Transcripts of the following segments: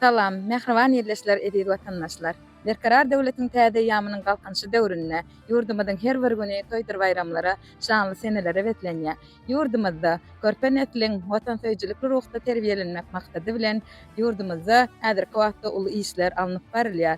Salam, mähriban ildeşler, eziz watandaşlar! Berkarar döwletiň täze eýýamynyň Galkynyşy döwründe ýurdumyzyň her bir güni toýdur-baýramlara, şanly senelere beslenýär. Ýurdumyzda körpe nesliň watansöýüjilikli ruhda terbiýelenmek maksady bilen, ýurdumyzda häzirki wagtda uly işler alnyp barylýar.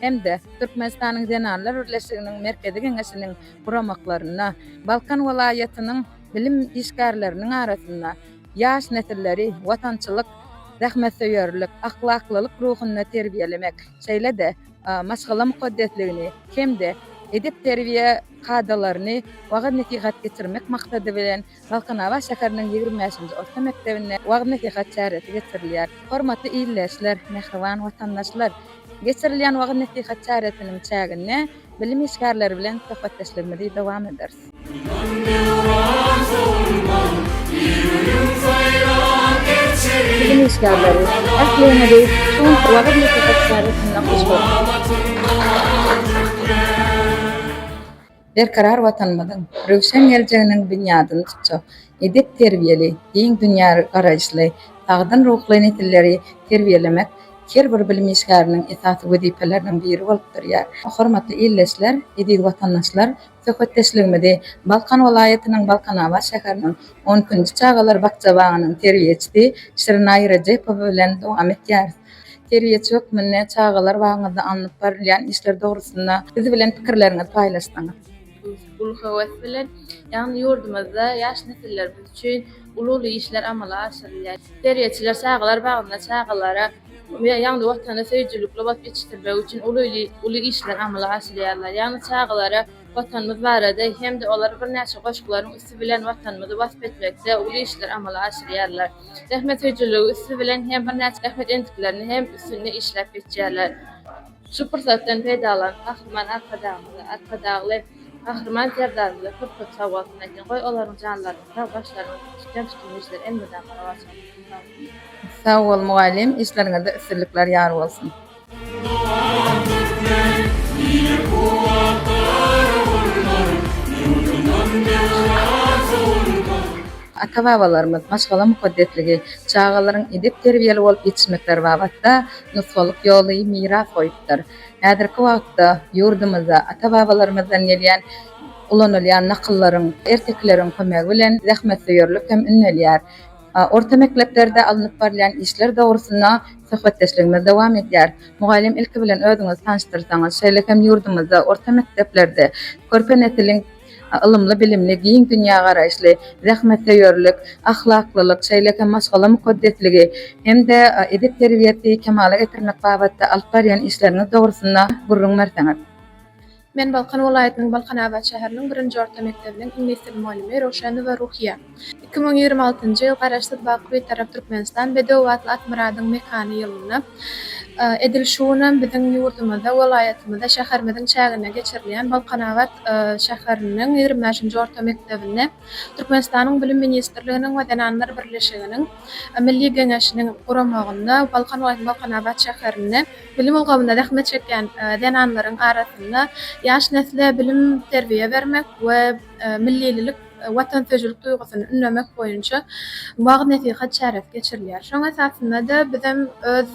hem-de Türkmenistanyň Zenanlar birleşiginiň Merkezi Geňeşiniň guramaklarynda Balkan welaýatynyň bilim işgärleriniň arasynda ýaş nesilleri watançylyk, zähmetsöýerlik, ahlaklylyk ruhunda terbiýelemek, şeýle-de maşgala mukaddesligini hem-de edep-terbiýe kadalaryny wagyz-nesihat geçirmek maksady bilen, Balkanabat şäheriniň ýigrimi bäşinji orta mekdebinde wagyz-nesihat çäresi geçirilýär. Hormatly ildeşler, mähriban watandaşlar! Geçirilýän wagyz-nesihat çäresiniň çäginde bilim işgärleri bilen söhbetdeşligimizi dowam ederis. Bilim işgärleri, ähliňizi şu günki wagyz-nesihat çäresinde hoş gördük! berkarar Watanymyzyň röwşen geljeginiň binýadyny tutjak edep-terbiýeli, giň dünýägaraýyşly, sagdyn ruhly nesilleri terbiýelemek her bir bilim işgäriniň esasy wezipeleriniň biri bolup durýar. Hormatly ildeşler, eziz watandaşlar, söhbetdeşligimizi Balkan welaýatynyň Balkanabat şäheriniň on ikinji çagalar bakja-bagynyň terbiýeçisi Şirinaý Rejepowa bilen dowam etýäris. Terbiýeçi hökmünde çagalar bagyňyzda alnyp barylýan işler dogrusynda biz bilen pikirleriňizi paýlaşsaňyz? Uly höwes bilen. Ýagny ýurdumyzda ýaş nesillerimiz üçin uly-uly işler amala aşyrylýar. Terbiýeçiler çagalar bagynda çagalara ýagny Watana söýüjilikli bolup ýetişdirmek üçin uly-uly işler amala aşyrýarlar. Ýagny çagalara Watanymyz barada hem-de olar birnäçe goşgularyň üsti bilen Watanymyzy wasp etmekde uly işler amala aşyrýarlar. Zähmetsöýüjiligi üsti bilen hem birnäçe zähmet endiklerini hem üstünde işläp geçýärler. Şu pursatdan peýdalanyp Gahryman Arkadagymyza, Arkadagly Gahryman Serdarymyza köp-köp sagbolsun aýtýan. Goý, olaryň janlaryna sag, başlaryna dik tutýan tutumly işleri elmydama rowaç bolsun. Sag bol. Sag bol mugallym, işleriňizde üstünlikler ýar bolsun. Ata-babalarymyz maşgala mukaddesligi, çagalaryň edep-terbiýeli bolup ýetişmekleri babatda nusgalyk ýoly miras goýupdyr. Häzirki wagtda ýurdumyzda ata-babalarymyzdan gelýän ulanylýan nakyllaryň, ertekileriň kömegi bilen zähmetsöýerlik hem ünnelýär. Orta mekleplerde alnyp barylýan işler dogrusynda söhbetdeşligimiz dowam edýär. Mugallym ilki bilen özüňizi tanyşdyrsaňyz, şeýle hem ýurdumyzda orta mekdeplerde körpe nesliň ylymly-bilimli, giň dünýägaraýyşly, zähmetsöýerlik, ahlaklylyk, şeýle hem maşgala mukaddesligi hem-de edep terbiýesi kemala getirmek babatda alyp barýan işleriňiz dogrusynda gürrüň berseňiz. Men Balkan welaýatynyň Balkanabat şäheriniň birinji orta mekdebiniň iňlis dili mugallymy Röwşenowa Ruhyýa. Iki müň ýigrimi altynjy ýyl Garaşsyz, baky Bitarap Türkmenistan bedew atly Akmyradyň mekany ýylynda edil şu günam biziň ýurdumyzda, welaýatymyzda, şäherimiziň çäginde geçirilýän Balkanabat şäheriniň ýigrimi bäşinji orta mekdebinde Türkmenistanyň Bilim ministrliginiň we Zenanlar birleşiginiň Milli Geňeşiniň guramagynda Balkan welaýatynyň Balkanabat şäherinde Bilim ulgamynda zähmet çekýän zenanlaryň arasynda ýaş nesle bilim-terbiýe bermek we millililik, watansöýüjilik duýgusyny ündemek boýunça wagyz-nesihat çäresi geçirilýär. Şoň esasynda-da bizem öz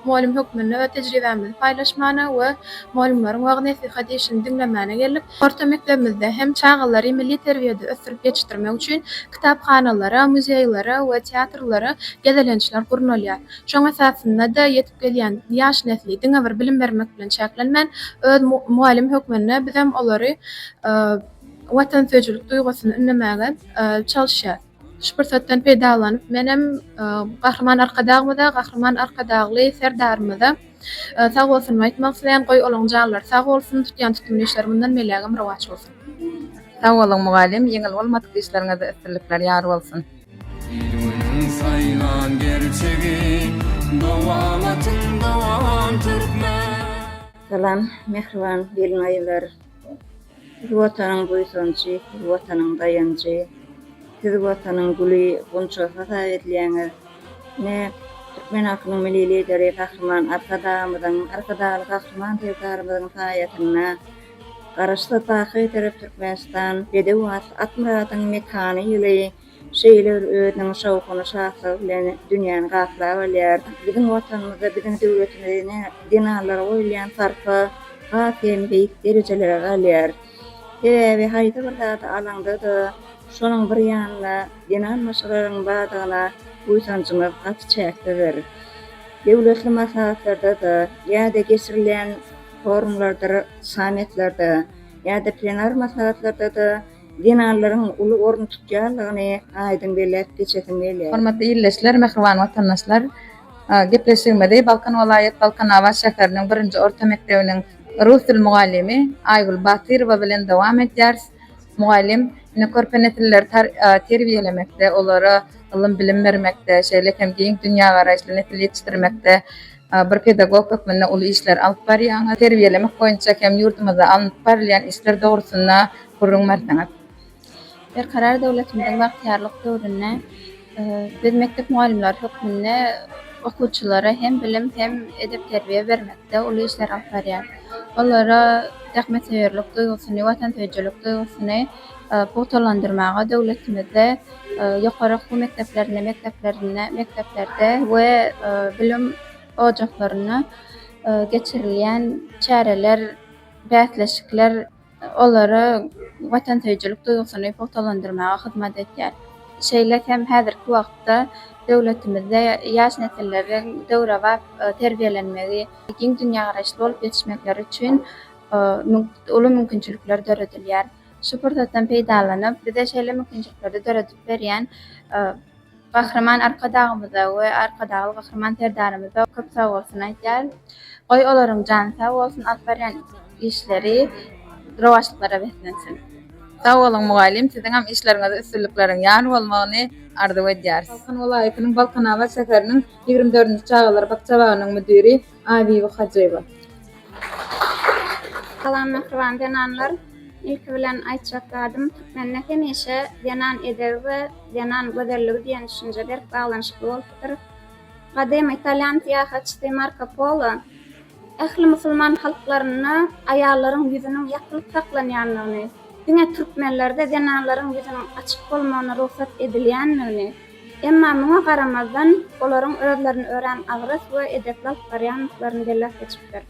mugallym hökmünde öz tejribämizi paýlaşmana we mugallymlaryň wagyz-nesihat işini diňlemäne geldik. Orta mekdebimizde hem çagalary milli terbiýede ösdürip ýetişdirmek üçin kitaphanalara, muzeýlere we teatrlara gezelençler gurnalýar. Şoň esasynda-da ýetip gelýän ýaş nesli diňe bir bilim bermek bilen çäklenmän, öz mugallym hökmünde bizem olary watansöýüjilik duýgusyny ündemäge çalyşýarys. Şu pursatdan peýdalanyp, menem Gahryman Arkadagymyza, Gahryman Arkadagly Serdarymyza sagbolsunymy aýtmak isleýän. Goý, olaryň janlary sag bolsun, tutýan tutumly işleri mundan beýlägem rowaç bolsun! Sag boluň mugallym, ýeňil bolmadyk işleriňizde üstünlikler ýar bolsun! Il-günüň saýlan gerçegi, Dowamatyň dowam türkmen! Salam, mähriban gelin-aýallar! Siz Watanyň buýsanjy, siz Watanyň daýanjy, siz Watanyň güli, gunçasy hasap edilýäňiz. Ine, türkmen halkynyň Milli Lideri Gahryman Arkadagymyzyň, Arkadagly Gahryman Serdarymyzyň saýasynda, Garaşsyz baky Türek Türkmenistan bedew at Atmyradyň mekany ýyly şeýle bir özüniň şowhuny şatlygy bilen dünýäni gaplap alýar. Biziň watanymyzda biziň döwletimizi ne zenanlara goýulýan sarpa has hem beýik derejelere galýar. Sebäbi haýsy bir zady alaňda-da şonuň bir ýanyna zenan maşgalaryň bardygyna buýsanjymyz gaty çäksizdir. Döwletli maslahatlarda-da ýa-da geçirilýän Forumlarda, sammitlerde ýa-da plenar maslahatlarda-da zenanlaryň uly orun tutýandygyny aýdyň belläp geçesim gelýär. Hormatly ildeşler, mähriban watandaşlar! Gepleşigimizi Balkan welaýat Balkanabat şäheriniň birinji orta mekdebiniň rus dil mugallymy Aýgül Batyrowa bilen dowam edýäris. Mugallym, ine, körpe nesilleri terbiýelemekde, olara ylym-bilim bermekde, şeýle hem giň dünýägaraýyşly nesil ýetişdirmekde Bir pedagog hökmünde uly işleri alyp barýaňyz. Terbiýelemek boýunça hem ýurdumyzda alnyp barylýan işler dogrusynda gürrüň berseňiz. Berkarar döwletimiziň bagtyýarlyk döwründe biz mekdep mugallymlary hökmünde okuwçylara hem bilim, hem edep-terbiýe bermekde uly işleri alyp barýarys. Olara zähmetsöýerlik duýgusyny, watansöýüjilik duýgusyny. pugtalandyrmaga, döwletimizde ýokary okuw mekdeplerinde, mekdeplerinde, mekdeplerde we bilim ojaklarynda geçirilýän çäreler, bäsleşikler olara watansöýüjilik duýgusyny pugtalandyrmaga hyzmat edýär. Şeýle hem häzirki wagtda döwletimizde ýaş nesilleriň döwrebap terbiýelenmegi, giň dünýägaraýyşly bolup ýetişmekleri üçin uly mümkinçilikler döredilýär. Şu pursatdan peýdalanyp, bize şeýle mümkinçilikleri döredip berýän Gahryman Arkadagymyza we Arkadagly Gahryman Serdarymyza köp sag bolsun aýdýarys. Goý, olaryň jany sag bolsun, alyp barýan işleri rowaçlyklara beslensin. Sag boluň mugallym siziňem işleriňizde üstünlikleriň ýar bolmagyny arzuw edýäris. Balkan welaýatynyň Balkanabat şäheriniň ýigrimi dördünji çagalar bakja bagynyň müdiri Aýbibi Hajyýewa. Salam mähriban zenanlar. Ilki bilen aýtjak zadym, türkmende hemişe zenan edebi we zenan gözelligi diýen düşünje berk baglanyşykly bolupdyr. Gadymy italýan syýahatçysy Marko Polo ähli musulman halklarynda aýallaryň ýüzüniň ýapylyp saklanýandygyny, diňe türkmenlerde zenanlaryň ýüzüniň açyk bolmagyna rugsat edilýändigini, Emma muňa garamazdan, olaryň özlerini örän agras we edepli alyp barýandyklaryny belläp geçipdir.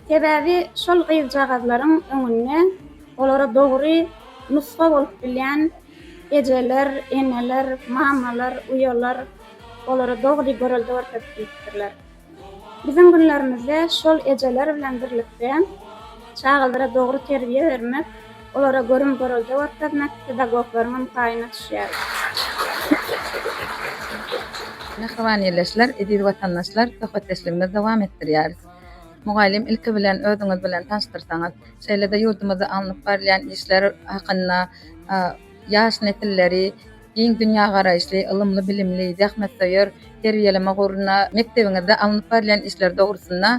Sebäbi şol gyzjagazlaryň öňünde olara dogry nusga bolup bilýän ejeler, eneler, mamalar, uýalar olara dogry görelde görkezip bilipdirler. Biziň günlerimizde şol ejeler bilen birlikde çagalara dogry terbiýe bermek, olara görüm-görelde görkezmek pedagoglaryň hem paýyna düşýär. Mähriban ildeşler, eziz watandaşlar, söhbetdeşligimizi dowam etdirýäris. Mugallym, ilki bilen özüňiz bilen tanyşdyrsaňyz, şeýle-de ýurdumyzda alnyp barylýan işler hakynda, ýaş nesilleri, Giň dünýägaraýyşly, ylymly-bilimli, zähmetsöýer terbiýeleme ugrunda mekdebiňizde alnyp barylýan işler dogrusynda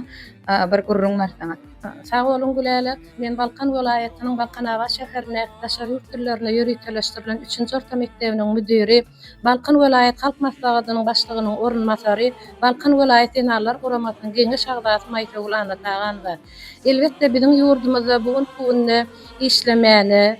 bir gürrüň berseňiz? Sag boluň Gülälek. Men Balkan welaýatynyň Balkanabat şäherindäki daşary ýurt dillerinde ýöriteleşdirilen üçünji orta mekdebiniň müdiri, Balkan welaýat Halk Maslahatynyň Başlygynyň orunbasary, Balkan welaýat zenanlar guramasynyň Geňeş agzasy Maýsögül Annataganowa. Elbetde, biziň ýurdumyzda bu günki günde işlemäne,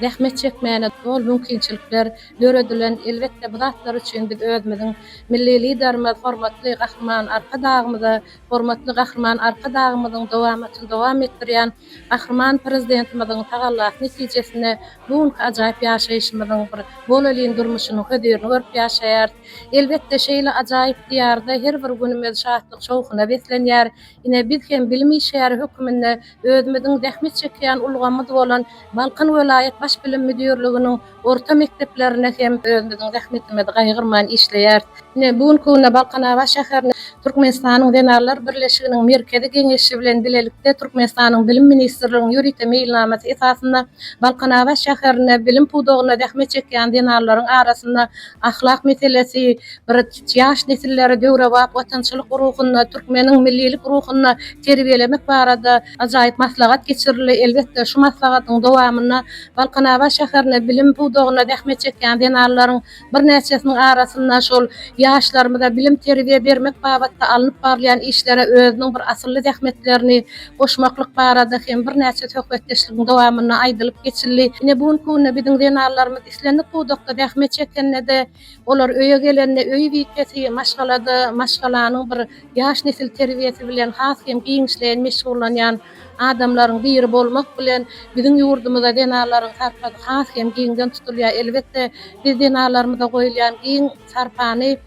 zähmet çekmäne doly mümkinçilikler döredilen. Elbetde, bu zatlar üçin biz özümiziň Milli Liderimiz, hormatly Gahryman Arkadagymyza, hormatly Gahryman Arkadagymyzyň dowamatyny dowam etdirýän Gahryman Prezidentimiziň tagallasy netijesinde bu günki ajaýyp ýaşaýşymyzyň bir bolelin durmuşynyň hözirini görüp ýaşaýarys. Elbetde, şeýle ajaýyp Diýarda her bir günümiz şatlyk-şowhuna beslenýär. Ine, biz hem bilim işgäri höküminde özümiziň zähmet çekýän ulgamymyz bolan Balkan welaýat baş bilim müdirliginiň orta mekdeplerinde hem özümiziň zähmetimizi gaýgyrman işleýäris. Ine, bu günki günde Balkanabat şäherini Türkmenistanyň Zenanlar birleşiginiň Merkezi Geňeşi bilen bilelikde Türkmenistanyň Bilim ministrliginiň ýörite meýilnamasy esasynda Balkanabat şäherinde bilim pudagynda zähmet çekýän zenanlaryň arasynda ahlak meselesi bir ýaş nesilleri döwrebap watançylyk ruhunda, türkmeniň millilik ruhunda terbiýelemek barada ajaýyp maslahat geçirildi. Elbetde, şu maslahatyň dowamynda Balkanabat şäherinde bilim pudagynda zähmet çekýän zenanlaryň birnäçesiniň arasynda şol ýaşlarymyza bilim-terbiýe bermek babatda alnyp barylýan işlere özüniň bir asylly zähmetlerini goşmaklyk barada hem birnäçe söhbetdeşligiň dowamynda aýdylyp geçildi. Ine, bu günki günde biziň zenanlarymyz islendik pudakda zähmet çekende-de, olar öýe gelende öý wizpesi, maşgalada maşgalanyň bir ýaş nesil terbiýesi bilen has hem giňişleýin meşgullanýan adamlaryň biri bolmak bilen, biziň ýurdumyzda zenanlaryň sarpasy has hem giňden tutulýar. Elbetde, biz zenanlarymyza goýulýan giň sarpany.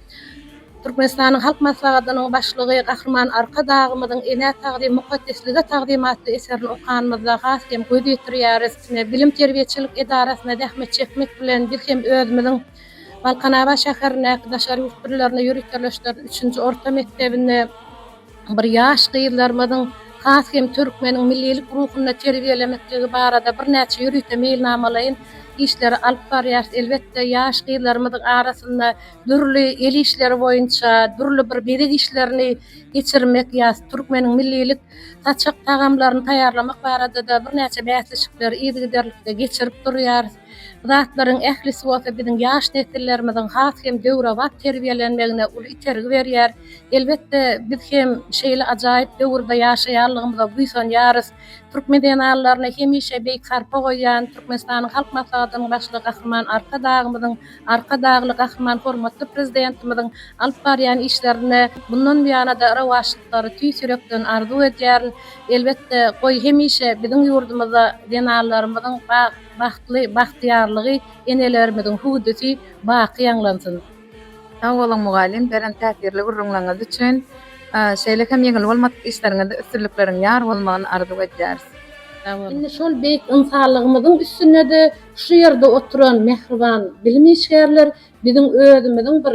Türkmenistanyň Halk Maslahatynyň Başlygy Gahryman Arkadagymyzyň Enä tagzym, mukaddeslige tagzym atly eserini okanymyzda has hem göz ýetirýäris. Bilim-terbiýeçilik edarasyna zähmet çekmek bilen, biz hem özümiziň Balkanabat şäherindäki daşary ýurt dillerini ýöriteleşdiren üçünji orta mekdebini, Bir ýaş gyzlarymyzyň has hem türkmeniň millilik ruhunda terbiýelemekligi barada birnäçe ýörite meýilnamalaýyn işleri alyp barýarys. Elbetde, ýaş gyzlarymyzyň arasynda dürli el işleri boýunça dürli bir bezeg işlerini geçirmek ýa türkmeniň millilik saçak tagamlaryny taýýarlamak barada-da birnäçe bäsleşikleri yzygiderlikde geçirip durýarys. zatlaryň ählisi bolsa biziň ýaş nesillerimiziň has hem döwrebap terbiýelenmegine uly itergi berýär. Elbetde, biz hem şeýle ajaýyp döwürde ýaşaýanlygymyza buýsanýarys. Türkmen zenanlaryna hemişe beýik sarpa goýýan Türkmenistanyň Halk Maslahatynyň Başlygy Gahryman Arkadagymyzyň, Arkadagly Gahryman hormatly Prezidentimiziň alyp barýan işlerine mundan buýana-da rowaçlyklary tüýs ýürekden arzuw edýärin. Elbetde, goý hemişe biziň ýurdumyzda zenanlarymyzyň bag, Bagtly bagtyýarlygy enelerimiziň hüwdüsi baky ýaňlansyn. Sag boluň mugallym beren täsirli gürrüňleriňiz üçin. Şeýle hem ýeňil bolmadyk işleriňizde üstünlikleriň ýar bolmagyny arzuw edýäris. Sag boluň. Indi şol beýik ynsanlygymyzyň üstünede şu ýerde oturan mähriban bilim işgärler biziň özümiziň bir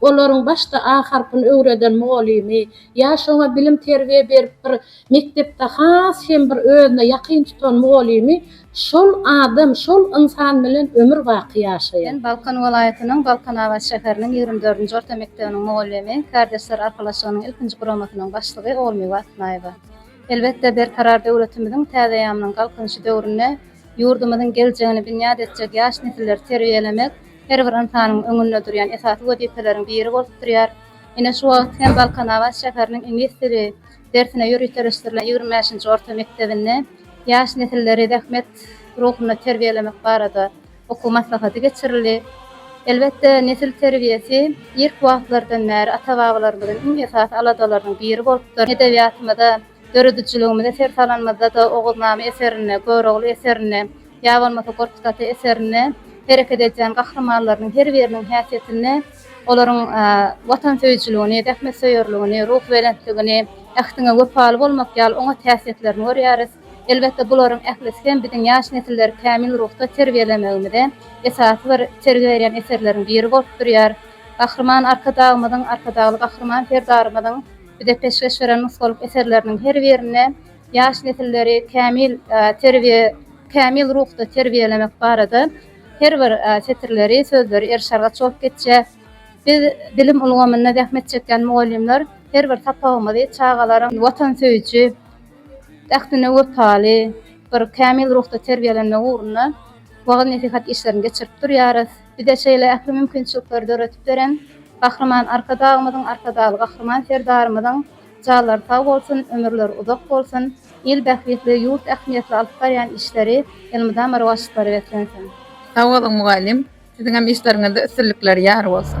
Olaryň başda A harpyny öwreden mugalymy, ýa-şo oňa bilim-terbiýe berip bir mekdepde has hem bir özüne ýakyn tutan mugalymy, şol adam, şol ynsan bilen ömür baky ýaşaýar. Men Balkan welaýatynyň Balkanabat şäheriniň ýigrimi dördünji orta mekdebiniň mugalymy, Kärdeşler arkalaşygynyň ilkinji guramasynyň başlygy Ogulmiwe Atnaýewa. Elbetde, Berkarar döwletimiziň täzeýamynyň Galkynyşy döwründe ýurdumyzyň geljegini binýat etjek ýaş nesilleri terbiýelemek, her bir ynsanyň öňünde durýan esasy wezipeleriň biri bolup durýar. Ine, şu wagt hem Balkanabat şäheriniň iňlis dili dersine ýöriteleşdirilen ýigrimi bäşinji orta mekdebinde ýaş nesilleri zähmet ruhunda terbiýelemek barada okuw maslahaty geçirildi. Elbetde, nesil terbiýesi irki wagtlardan bäri ata-babalarymyzyň iň esasy aladalarynyň biri bolupdyr. Edebiýatymyza Döredijiligimize ser salanymyzda-da Oguznama eserinde, Görogly eserinde ýa bolmasa Gorkut ata eserinde hereket edýän gahrymanlarynyň her biriniň häsiýetinde olaryň watansöýüjiligini, zähmetsöýerligini, ruhubelentligini, ähtiňe wepaly bolmak ýaly oňat häsiýetlerini görýäris. Elbetde, bularyň ählisi hem biziň ýaş nesilleri kämil ruhda terbiýelemegimize esasy bir sergi berýän eserleriň biri bolup durýar. Gahryman Arkadagymyzyň, Arkadagly Gahryman Serdarymyzyň. bize peşgeş beren nusgalyk eserleriniň her birinde ýaş nesilleri kämil terbiýe kämil ruhda terbiýelemek barada her bir setirleri, sözleri erşargaç bolup geçýär. Biz, bilim ulgamynda zähmet çekýän mugallymlar her bir sapagymyzy çagalaryň watansöýüji, ähtine wepaly, bir kämil ruhda terbiýelenmegi ugrunda wagyz-nesihat işlerini geçirip durýarys. Bize şeýle ähli mümkinçilikleri döredip beren Gahryman Arkadagymyzyň, Arkadagly Gahryman Serdarymyzyň janlary sag bolsun, ömürleri uzak bolsun, il bähbitli, ýurt ähmiýetli alyp barýan işleri elmydama rowaçlyklara beslensin! Sag boluň mugallym, siziňem işleriňizde üstünlikler ýar bolsun!